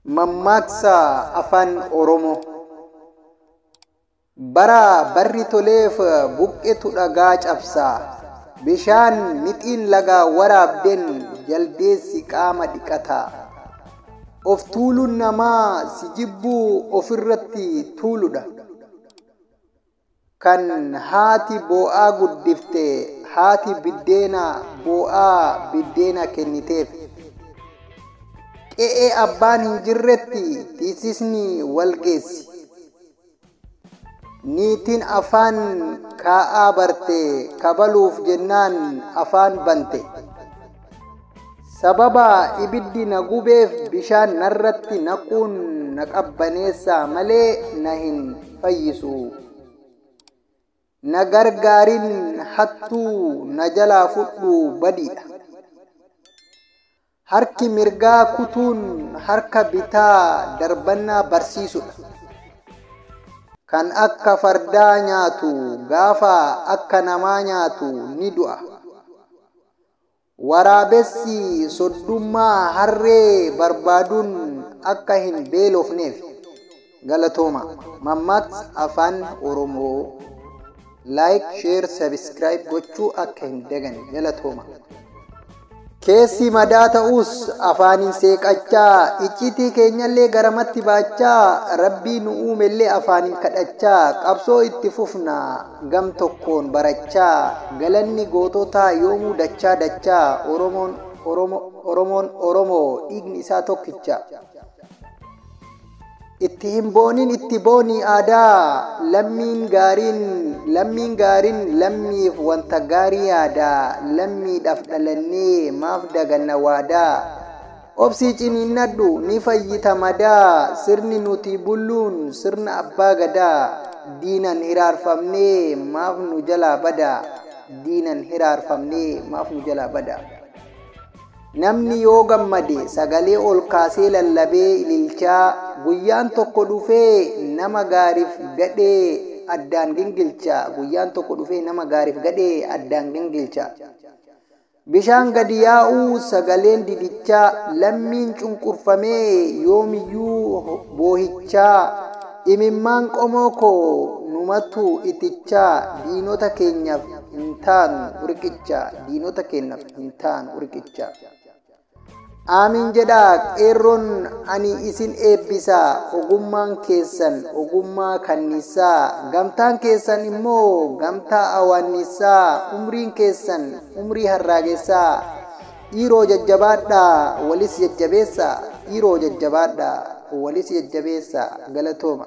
Mammaaksa Afaan Oromoo Bara barri toleef buqqetu dhagaa cabsa. Bishaan mixiin lagaa waraabdeen jaldeessi qaama dhiqata. Of tuuluun namaa si jibbuu ofirratti tuuludha. Kan haati boo'aa guddifte haati biddeena boo'aa biddeena kenniteef. Qe'ee abbaan hin jirretti tiisisni wal geessi. Niitiin afaan kaa'aa barte kabaluuf jennaan afaan bante. Sababa ibiddi na gubeef bishaan narratti naquun na qabbaneessaa malee na hin fayyisu. Na gargaarin hattuu na jalaa fudhu badiidha. Harki mirgaa kutuun harka bitaa darbannaa barsiisudha. Kan akka fardaa nyaatu gaafa akka namaa nyaatu ni du'a. Waraabessi soddummaa harree barbaaduun akka hin beelofneef. Galatooma. Mammaaksa Afaan Oromoo. Like, share, subscribe gochuu akka hin dagane. Galatooma. Keessi madaa ta'us afaaniin seeqachaa, icciitii keenyallee garamatti baachaa, Rabbii nu uumellee afaaniin kadhachaa qabsoo itti fufna. gam tokkoon barachaa galanni goototaa yoomuu dachaa dachaa Oromoon Oromo Oromoon Oromo dhiigni isaa tokkicha itti hin boonin itti boonii aadaa lammiin gaariin lammiin gaarin lammiif wanta gaarii yaada lammiidhaf dhalannee maaf daganna waadaa Obsii ciniinnadhu ni fayyita madaa Sirni nuti bulluun sirna abbaa gadaa Diinan hiraarfamnee maaf nu jalaa bada Diinan hiraarfamnee maaf nu jalaa bada Namni yoo gammade sagalee ol kaasee lallabee ililchaa Guyyaan tokko dhufee nama gaarif gadhee addaan gingilcha Guyyaan tokko dhufee nama gaarif gadhee addaan gingilcha Bishaan gadi yaa'uu, sagaleen didichaa, lammiin cunqurfamee yoomiyyuu boohichaa, imimmaan qomoo koo numatu itichaa, diinota keenyaf hin taanu riqicha, diinota keenyaf hin taanu riqicha. Aamiin jedhaa qeerroon ani isin eebbisa ogummaan keessan ogummaa kanniissaa gamtaan keessan immoo gamtaa awaanniissaa umriin keessan umrii harraagessaa dhiiroo jajjabaadhaa walis jajjabeessa dhiiroo jajjabaadhaa walis jajjabeessa galatooma.